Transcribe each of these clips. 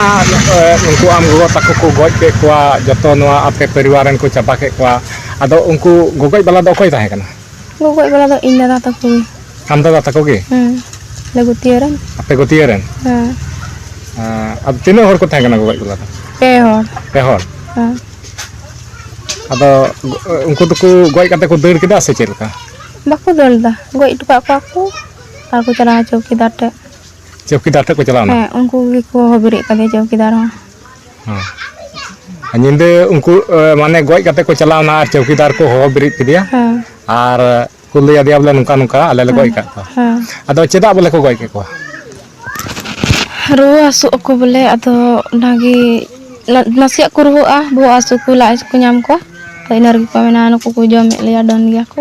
ᱩᱱᱠᱩ ᱟᱢ ᱜᱚᱜᱚ ᱛᱟᱠᱚ ᱠᱚ ᱜᱚᱡ ᱠᱮᱫ ᱠᱚᱣᱟ ᱡᱚᱛᱚ ᱱᱚᱣᱟ ᱟᱯᱮ ᱯᱚᱨᱤᱵᱟᱨ ᱨᱮᱱ ᱠᱚ ᱪᱟᱵᱟ ᱠᱮᱫ ᱠᱚᱣᱟ ᱟᱫᱚ ᱩᱱᱠᱩ ᱜᱚᱜᱚᱡ ᱵᱟᱞᱟ ᱫᱚ ᱚᱠᱚᱭ ᱛᱟᱦᱮᱸ ᱠᱟᱱᱟ ᱜᱚᱜᱚᱡ ᱵᱟᱞᱟ ᱫᱚ ᱤᱧ ᱫᱟᱫᱟ ᱛᱟᱠᱚ ᱜᱮ ᱟᱢ ᱫᱟᱫᱟ ᱛᱟᱠᱚ ᱜᱮ ᱦᱮᱸ ᱟᱞᱮ ᱜᱩᱛᱤᱭᱟᱹ ᱨᱮᱱ ᱟᱯᱮ ᱜᱟᱹᱛᱭᱟᱹ ᱨᱮᱱ ᱦᱮᱸ ᱟᱸ, ᱟᱫᱚ ᱛᱤᱱᱟᱹᱜ ᱦᱚᱲ ᱠᱚ ᱛᱟᱦᱮᱸ ᱠᱟᱱᱟ ᱜᱚᱜᱚᱡ ᱵᱟᱞᱟ ᱫᱚ ᱯᱮ ᱦᱚᱲ ᱯᱮ ᱦᱚᱲ ᱦᱮᱸ ᱟᱫᱚ ᱜᱚ- ᱩᱱᱠᱩ ᱫᱚᱠᱚ ᱜᱚᱡ ᱠᱟᱛᱮ ᱠᱚ ᱫᱟᱹᱲ ᱠᱮᱫᱟ ᱥᱮ ᱪᱮᱫ ᱞᱮᱠᱟ ᱵᱟᱠᱚ ᱫᱟᱹᱲ ᱞᱮᱫᱟ ᱜᱚᱡ ᱦᱚᱴᱚ ᱠᱟᱜ ᱠᱚᱣᱟ ᱠᱚ ᱟᱨ ᱠᱚ ᱪᱟᱞᱟᱣ ᱪᱚᱣᱠᱤᱫᱟᱨ ᱴᱷᱮᱡ ᱪᱚᱣᱠᱤᱫᱟᱨ ᱴᱷᱮᱱ ᱠᱚ ᱪᱟᱞᱟᱣ ᱮᱱᱟ ᱦᱮᱸ ᱩᱱᱠᱩ ᱜᱮᱠᱚ ᱦᱚᱦᱚ ᱵᱮᱨᱮᱫ ᱠᱟᱫᱮᱭᱟ ᱪᱚᱣᱠᱤᱫᱟᱨ ᱦᱚᱸ ᱦᱮᱸ ᱧᱤᱫᱟᱹ ᱩᱱᱠᱩ ᱮ, ᱢᱟᱱᱮ ᱜᱚᱡ ᱠᱟᱛᱮ ᱠᱚ ᱪᱟᱞᱟᱣ ᱮᱱᱟ ᱟᱨ ᱪᱚᱣᱠᱤᱫᱟᱨ ᱠᱚ ᱦᱚᱦᱚ ᱵᱮᱨᱮᱫ ᱠᱮᱫᱮᱭᱟ ᱦᱮᱸ ᱟᱨ ᱠᱚ ᱞᱟᱹᱭ ᱟᱫᱮᱭᱟ ᱵᱚᱞᱮ ᱱᱚᱝᱠᱟ ᱱᱚᱝᱠᱟ ᱟᱞᱮ ᱞᱮ ᱜᱚᱡ ᱠᱟᱜ ᱠᱚᱣᱟ ᱦᱮᱸ ᱟᱫᱚ ᱪᱮᱫᱟᱜ ᱵᱚᱞᱮ ᱠᱚ ᱜᱚᱡ ᱠᱮᱫ ᱠᱚᱣᱟ ᱨᱩᱣᱟᱹ ᱦᱟᱹᱥᱩᱜ ᱟᱠᱚ ᱵᱚᱞᱮ ᱟᱫᱚ ᱚᱱᱟᱜᱮ ᱱᱟ- ᱱᱟᱥᱮᱭᱟᱜ ᱠᱚ ᱨᱩᱣᱟᱹᱜᱼᱟ ᱵᱚᱦᱚᱜ ᱦᱟᱹᱥᱩ ᱠᱚ ᱞᱟᱡ ᱦᱟᱹᱥᱩ ᱠᱚ ᱧᱟᱢ ᱠᱚᱣᱟ ᱛᱚ ᱤᱱᱟᱹ ᱨᱮᱜᱮ ᱠᱚ ᱢᱮᱱᱟ ᱱᱩᱠᱩ ᱠᱚ ᱡᱚᱢᱮᱫ ᱞᱮᱭᱟ ᱰᱟᱹᱱ ᱜᱮᱭᱟ ᱠᱚ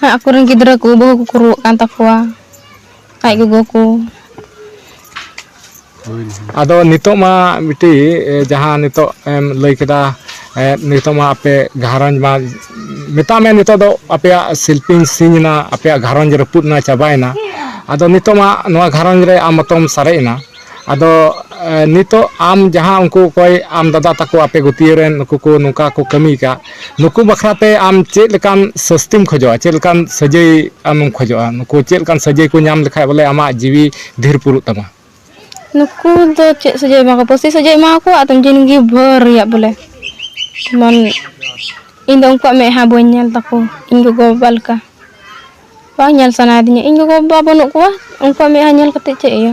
ᱦᱮᱸ ᱟᱠᱚᱨᱮᱱ ᱜᱤᱫᱽᱨᱟᱹ ᱠᱚ ᱵᱟᱹᱦᱩ ᱠᱚᱠᱚ ᱨᱩᱣᱟᱹᱜ ᱠᱟᱱ ᱛᱟᱠᱚᱣᱟ ᱟᱡ ᱜᱚᱜᱚ ᱠᱚ ᱟᱫᱚ ᱱᱤᱛᱚᱜ ᱢᱟ ᱢᱤᱫᱴᱤᱡ ᱡᱟᱦᱟᱸ ᱱᱤᱛᱚᱜ ᱮᱢ ᱞᱟᱹᱭ ᱠᱮᱫᱟ ᱱᱤᱛᱚᱜ ᱢᱟ ᱟᱯᱮ ᱜᱷᱟᱨᱚᱸᱡᱽ ᱢᱟ ᱢᱮᱛᱟᱜ ᱢᱮ ᱱᱤᱛᱚᱜ ᱫᱚ ᱟᱯᱮᱭᱟᱜ ᱥᱤᱞᱯᱤᱧ ᱥᱤᱧ ᱮᱱᱟ ᱟᱯᱮᱭᱟᱜ ᱜᱷᱟᱨᱚᱸᱡᱽ ᱨᱟᱹᱯᱩᱫ ᱮᱱᱟ ᱪᱟᱵᱟᱭᱮᱱᱟ ᱟᱫᱚ ᱱᱤᱛᱚᱜ ᱢᱟ ᱱᱚᱣᱟ ᱜᱷᱟᱨᱚᱸᱡᱽ ᱨᱮ ᱟᱢ ᱢᱚᱛᱚᱢ ᱥᱟᱨᱮᱡ ᱮᱱᱟ ᱟᱫᱚ ᱱᱤᱛᱚᱜ ᱟᱢ ᱡᱟᱦᱟᱸ ᱩᱱᱠᱩ ᱚᱠᱚᱭ ᱟᱢ ᱫᱟᱫᱟ ᱛᱟᱠᱚ ᱟᱯᱮ ᱜᱟᱹᱛᱭᱟᱹ ᱨᱮᱱ ᱱᱩᱠᱩ ᱠᱚ ᱱᱚᱝᱠᱟ ᱠᱚ ᱠᱟᱹᱢᱤ ᱠᱟᱜ ᱱᱩᱠᱩ ᱵᱟᱠᱷᱨᱟ ᱛᱮ ᱟᱢ ᱪᱮᱫ ᱞᱮᱠᱟᱱ ᱥᱟᱹᱥᱛᱤᱢ ᱠᱷᱚᱡᱚᱜᱼᱟ ᱪᱮᱫ ᱞᱮᱠᱟᱱ ᱥᱟᱹᱡᱟᱹᱭ ᱟᱢᱮᱢ ᱠᱷᱚᱡᱚᱜᱼᱟ ᱱᱩᱠᱩ ᱪᱮᱫ ᱞᱮᱠᱟᱱ ᱥᱟᱹᱡᱟᱹᱭ ᱠᱚ ᱧᱟᱢ ᱞᱮᱠᱷᱟᱡ ᱵᱚᱞᱮ ᱟᱢᱟᱜ ᱡᱤᱣᱤ ᱫᱷᱤᱨ ᱯᱩᱨᱩᱜ ᱛᱟᱢᱟ ᱱᱩᱠᱩ ᱫᱚ ᱪᱮᱫ ᱥᱟᱹᱡᱟᱹᱭ ᱮᱢᱟ ᱠᱚᱣᱟ ᱯᱟᱹᱥᱤ ᱥᱟᱹᱡᱟᱹᱭ ᱮᱢᱟ ᱠᱚᱣᱟ ᱟᱫᱚ ᱡᱤᱱᱫᱮᱜᱤ ᱵᱷᱳᱨ ᱨᱮᱭᱟᱜ ᱵᱚᱞᱮ ᱡᱮᱢᱚᱱ ᱤᱧᱫᱚ ᱩᱱᱠᱩᱣᱟᱜ ᱢᱮᱫᱦᱟ ᱵᱟᱹᱧ ᱧᱮᱞ ᱛᱟᱠᱚ ᱤᱧ ᱜᱚᱜᱚᱼᱵᱟᱵᱟ ᱞᱮᱠᱟ ᱵᱟᱝ ᱧᱮᱞ ᱥᱟᱱᱟᱭᱤᱫᱤᱧᱟ ᱤᱧ ᱜᱚᱜᱚ ᱵᱟᱵᱟ ᱵᱟᱹᱱᱩᱜ ᱠᱚᱣᱟ ᱩᱱᱠᱩᱣᱟᱜ ᱢᱮᱫᱦᱟ ᱧᱮᱞ ᱠᱟᱛᱮ ᱪᱮᱫ ᱤᱭᱟᱹ